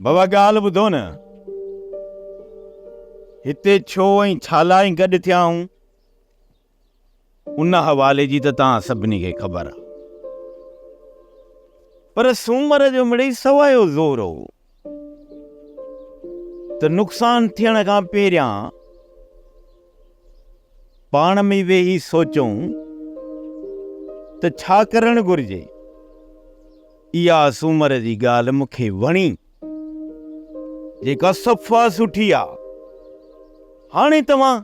بابا ڳالهه ٻڌو نه، هتي ڇو ۽ ڇالاء گڏ ٿيا آهون؟ ان حوالي جي ته توهان سڀني کي خبر آ. پر سومر جو مڙئي سوايو زور هو ته نقصان ٿيڻ کان پهريان پاڻ ۾ ويهي سوچون ته ڇا ڪرڻ گهرجي. اها سومر جي ڳالهه مون کي وڻي، جيڪا صفا سٺي آ. هاڻي توهان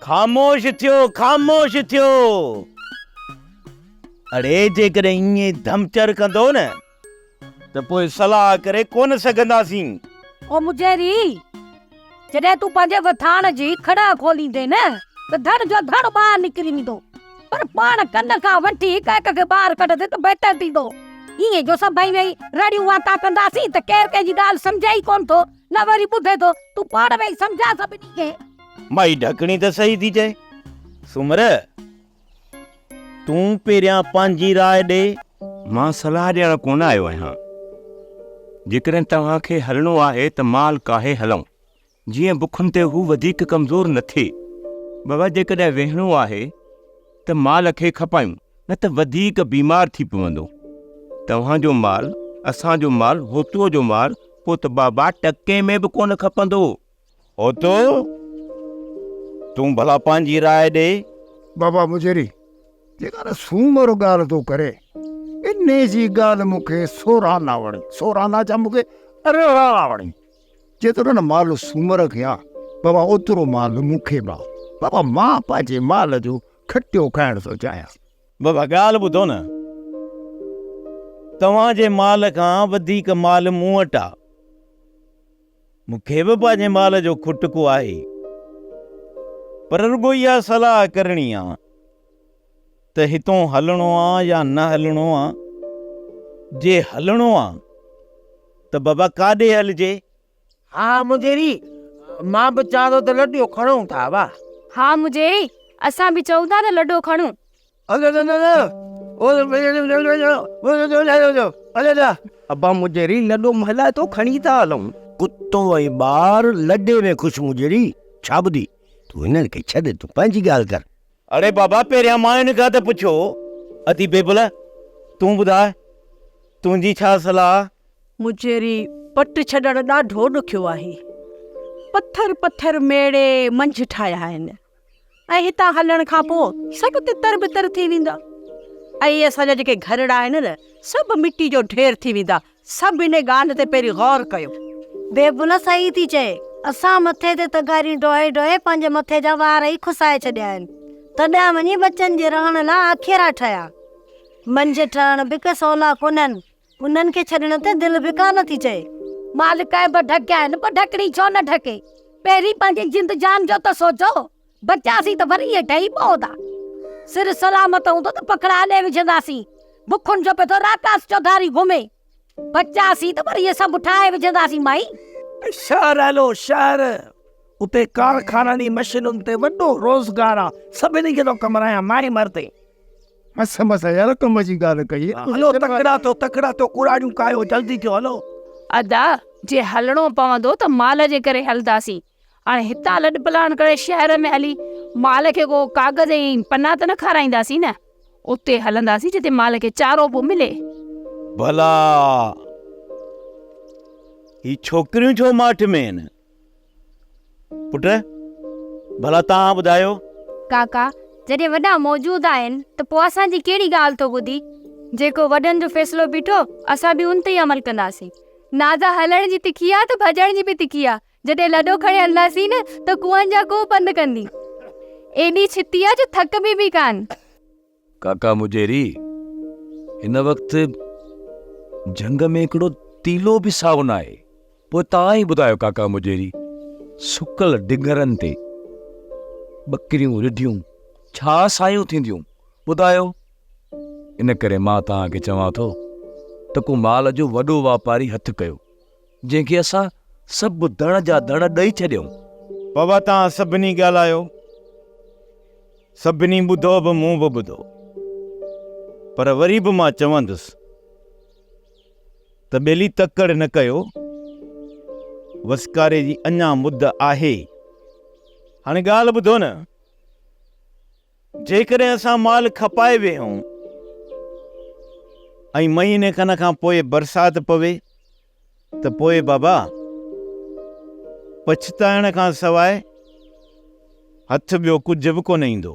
خاموش ٿيو خاموش ٿيو اڙي جيڪڏهن ائين ڌمچر ڪندو نه ته پوء صلاح ڪري ڪونه سگهنداسين. او مجهري! جڏهن تون پنهنجي وٿاڻ جي کڙا کوليندين نه ته ڌڙ جو ڌڙ ٻاهر نڪري ويندو، پر پاڻ ڪن کان وٺي هڪ هڪ کي ٻاهر ڪڍندين ته بهتر ٿيندو. ائين جو سڀئي ويهي رڙيون وانتا ڪنداسين ته ڪير ڪنهن جي ڳالهه سمجهي ئي ڪونه ٿو، نه وري ٻڌي ٿو. تون پاڻ ويهي سمجهاء سڀني کي. مائي ڍڪڻي ته صحيح ٿي چئي سومره! تون پهريان پنهنجي راء ڏي. مان صلاح ڏيڻ ڪونه آيو آهيان. جيڪڏهن توهان کي هلڻو آهي ته مال ڪاهي هلئون. جيئن بکن تي هو وڌيڪ ڪمزور نه ٿئي. بابا جيڪڏهن ويهڻو آهي ته مال کي کپايون نه ته وڌيڪ بيمار ٿي پوندو. توهان جو مال، اسان جو مال، هوتوء جو مال پوء ته بابا ٽڪي ۾ به ڪونه کپندو. اوتو، تون ڀلا پنهنجي راء ڏي. بابا مجري، جيڪا نه سومر ڳالهه تو ڪري، انهي جي ڳالهه مون کي سوران نه وڻي. سوران نه ڇا، مون کي ارڙان وڻي. جيترو نه مال سومر کي آ، بابا اوترو مال مون کي به آ. بابا مان پنهنجي مال جو کٽيو کائڻ ٿو چاهيان. بابا ڳالهه ٻڌو نه، توهان جي مال کان وڌيڪ مال مون وٽ آ. مون کي به پنهنجي مال جو کٽڪو آهي، پر رڳو اها صلاح ڪرڻي آ ته هتون هلڻو آ يا نه هلڻو آ. جي هلڻو آ ته بابا ڪاڏي هلجي؟ ها مجيري، مان به چوان ٿو ته لڏو کڻون ٿا، واهه. ها مجيري، اسان به چئون ٿا ته لڏو کڻون. ابا مجيري لڏو مهلائي ٿو کڻي ٿا هلون. ڪتو ۽ ٻار لڏي ۾ خوش مجيري ڇا ٻڌي تون هنن کي ڇڏ تون پنهنجي ڳالهه ڪر. اڙي بابا پهريان ماين کان ته پڇو اٿي بيبل تون ٻڌاء تنهنجي ڇا صلاح. مجيري پٽ ڇڏڻ ڏاڍو ڏکيو آهي پٿر پٿر ميڙي منجهه ٺاهيا آهن ۽ هتان هلڻ کان پوء سڀ تتر بتر ٿي ويندا ۽ اسان جا جيڪي گهرڙا آهن نه سڀ مٽي جو ڍير ٿي ويندا سڀ ان ڳالهه تي پهرين غور ڪيو. بيبولا صحيح ٿي چئي اسان مٿي تي تغاريون ڍوئي ڍوئي پنهنجي مٿي جا وار ئي کسائي ڇڏيا آهن تڏهن وڃي ٻچن جي رهڻ لاء آکيرا ٺهيا منجهه ٺهڻ به ڪي سولا ڪونهن. انهن کي ڇڏڻ تي دل به ڪا نه ٿي چئي. مال ڪنهن به ڍڪيا آهن پر ڍڪڻي ڇو نه ڍڪي. پهرين پنهنجي جند جان جو ته سوچو. بچياسين ته وري هيٺ ئي پوندا. سر سلامت هوندو ته پکڙا اڏي وجهنداسين. بکن جو پيو راڪاس چوڌاري گهمي. بچياسين ته وري سڀ ٺاهي وجهنداسين مائي. شهر هلو شهر. اتي ڪارخانن ۽ مشينن تي وڏو روزگار آ. سڀني کي ٿو ڪمرايان مائي مردي. مس مس يار ڪم جي ڳالهه ڪئي. هلو تڪڙا ٿيو تڪڙا ٿيو ڪوڙاڙيون ڪاهيو جلدي ٿيو هلو. ادا جي هلڻو پوندو ته مال جي ڪري هلنداسين هاڻي هتان لڏپلاڻ ڪري شهر ۾ هلي مال کي ڪو ڪاغذ ۽ پنا ته نه کارائينداسين نه اتي هلنداسين جتي مال کي چارو به ملي. ڀلا هي ڇوڪريون ڇو ماٺ ۾ آهن. پٽ، ڀلا توهان ٻڌايو. ڪاڪا، جڏهن وڏا موجود آهن ته پوء اسان جي ڪهڙي ڳالهه ٿو ٻڌي؟ جيڪو وڏن جو فيصلو بيٺو، اسان به ان تي ئي عمل ڪنداسين. نازا هلڻ جي تکي آ ته ڀڄڻ جي به تکي آ. جڏهن لڏو کڻي هلنداسين نه ته ڪوهن جا ڪوهه پنڌ ڪندي. ايڏي ڇتي آ جو ٿڪبي به ڪانه. ڪاڪا مجيري، هن وقت جهنگ ۾ هڪڙو تيلو به سائو ناهي. پوء توهان ئي ٻڌايو ڪاڪا مجيري، سڪل ڊنگرن تي ٻڪريون رڍيون ڇا سايون ٿينديون، ٻڌايو؟ ان ڪري مان توهان کي چوان ٿو ته ڪو مال جو وڏو واپاري هٿ ڪيو. جنهن کي اسان سڀ ڌڻ جا ڌڻ ڏئي ڇڏيائون. بابا توهان سڀني ڳالهايو، سڀني ٻڌو به مون به ٻڌو، پر وري به مان چوندس ته ٻيلي تڪڙ نه ڪيو، وسڪاري جي اڃا مد آهي. هاڻي ڳالهه ٻڌو نه. جيڪڏهن اسان مال کپائي ويهون ۽ مهيني کن کان پوء برسات پوي ته پوء بابا پڇتائڻ کان سواء هٿ ٻيو ڪجهه به ڪونه ايندو.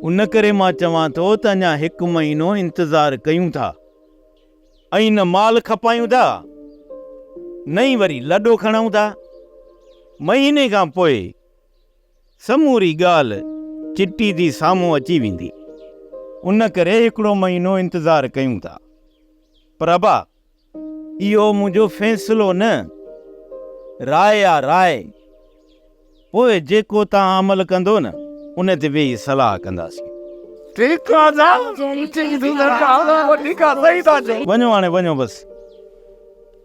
ان ڪري مان چوان ٿو ته اڃا هڪ مهينو انتظار ڪيون ٿا ۽ نه مال کپايون ٿا نه ئي وري لڏو کڻون ٿا. مهيني کان پوء سموري ڳالهه چٽي تي سامهون اچي ويندي، ان ڪري هڪڙو مهينو انتظار ڪيون ٿا. پرڀا، اهو منهنجو فيصلو نه، راء آ راء. پوء جيڪو توهان عمل ڪندو نه، ان تي ويهي صلاح ڪنداسين. ٺيڪ آ جا، چٽي تون درخواست وٺي کان صحيح ٿا چئو. وڃو هاڻي وڃو بس.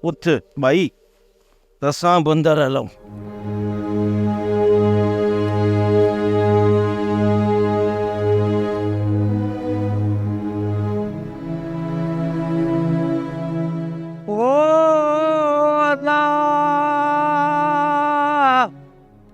اٿ ٻائي. اسان به اندر هلون.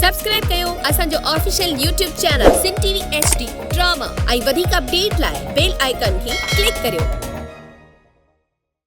سبسڪرائب ڪيو اسان جو official YouTube channel Sindh TV H D ڊي ڊراما ۽ وڌيڪ اپڊيٽ لاء بيل آئيڪان کي ڪلڪ ڪريو.